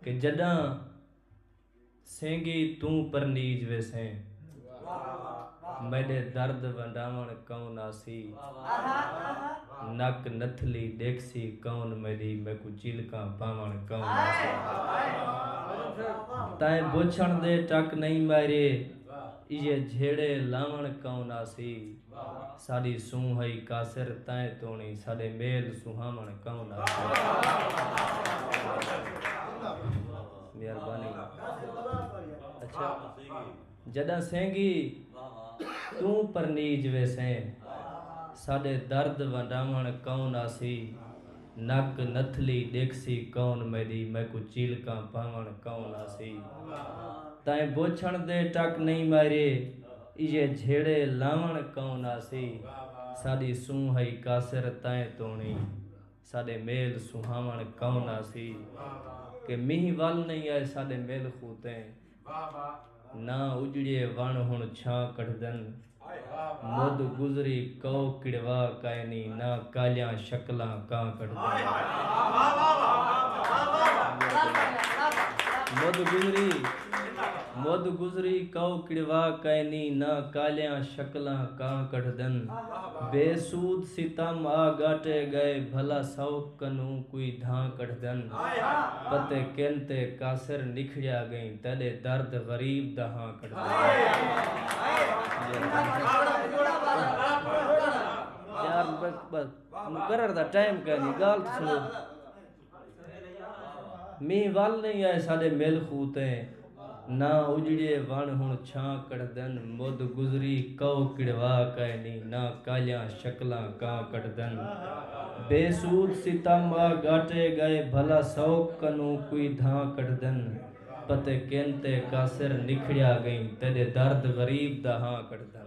کہ جݙاں سینگی توں پرنیج ویسیں میݙے درد ونڈاوݨ کون آسی نک نتھلی ݙیکھسی کون میݙی میکوں چیلکاں پاوݨ کون آسی تئیں بچھݨ دے ٹک نئیں میݙے ایہے جھیڑے لاوݨ کون آسی۔ ساݙی سونہہ ہئی قاصر تائیں توݨی ساݙے میل سونہاوݨ کون آسے جݙاں سینگی توں پرنیج ویسیں ساݙے درد ونڈاوݨ کون آسی نک نتھلی ݙیکھسی کون میݙی میکوں چیلکاں پاوݨ کون آسی تائیں بوچھݨ دے ٹک نئیں مائرے ایہے جھیڑے لاوݨ کئوں نہ سی ساݙی سونہہ ہئی قاصر تئیں توݨی ساݙے میل سہاوݨ کئوں نہ سی کہ مینہہ ول نئیں آئے ساݙے میل خوتیں نہ اجڑیے وݨ ہݨ چھاں کڈھدن مد گزری کئو کڑوا کائنی نہ کالیاں شکلاں کاں کڈھدن مد گزری مدھ گزری کئو کڑوا کئینی نہ کالیاں شکلاں کاں کڈھدن بے سود ستم آ گاٹے گئے بھلا سوک کنوں کوئی دھاں کڈھدن پتے کن تے کاسر نکھڑیا گئیں تیڈے درد غریب دا ہاں کڈھدن۔ مینہ ول نئیں آئے ساڈے مل خوں تے نہ اجڑیے ونڑ ہنڑ چھاں کڈھدن مد گزری کئو کڑوا کائے نی نہ کالیاں شکلاں کاں کڈھدن بے سود ستم آ گاٹے گئے بھلا سوک کنوں کوئی دھاں کڈھدن پتے کن تے کاسر نکھڑیا گئیں تیڈے درد غریب دا ہاں کڈھدن۔